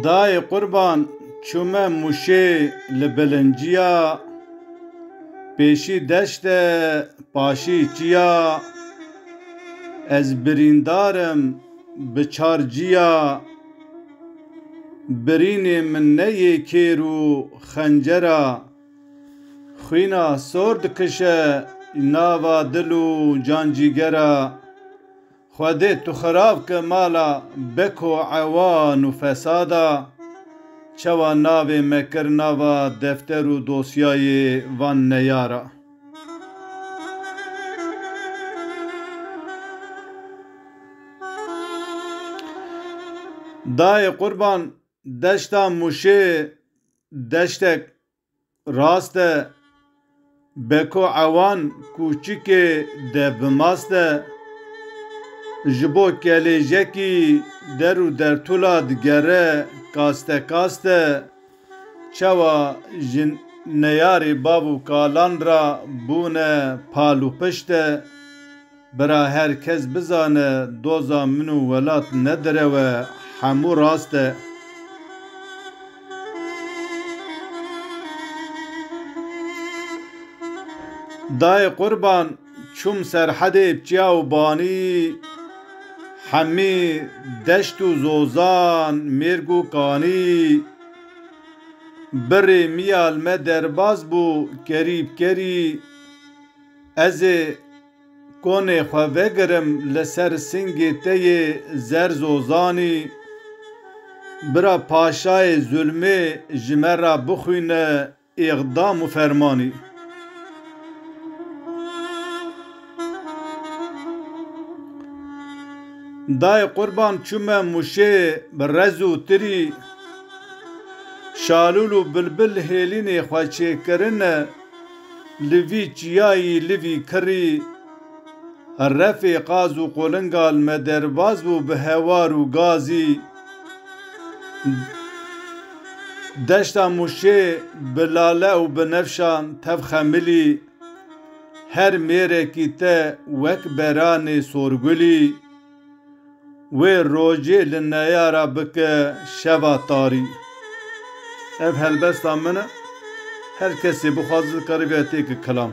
Dayê qurban çûme mûşê li bilinciya pêşî deşt e paşî çiya ez birîndar im bi çar ciya birînê min neyê kêr û xencera Xwîna sor dikişe nava dil û cancîgera Xwedê tu xirab ke mala Beko ewa nû fesada, çawa navê me kir nava defter û dosyayê van neyara. Dayê qurban deşta mûşê deştek rast e, Beko Ewan kûçikê dev bi mast e, ji bo kelêjekî der û dertula digere kaste kaste, çawa ji neyarê bav û kalan ra bûne pal û pişt e. Bira her kes bizane doza min û welat ne direw e hemû rast e. Dayê qurban çûm serhedê pçiya û banî hemî deşt û zozan mêrg û kanî birê miyal me derbaz bû kerî bkerî ez ê Konê xwe vegirim li ser singê te yê zer zozanî, bira paşayê zulmê ji me re bixwîne îqdam û fermanî. Dayê qurban çûme mûşê bi rez û tirî, şalûl û bilbil hêlînê xwe çêkirine, Li vî çiyayî li vî kirî refê qaz û qolinga li me derbas bû bi hewar û gazî. Deşta Mûşê bi lale û bi nefşan tev xemilî. Her mêrekî te wek beranê sorgulî. Wê rojê li neyara bike şeva tarî. Ev helbesta min e. Her kesê bixwaze dikarîbe têke kilam.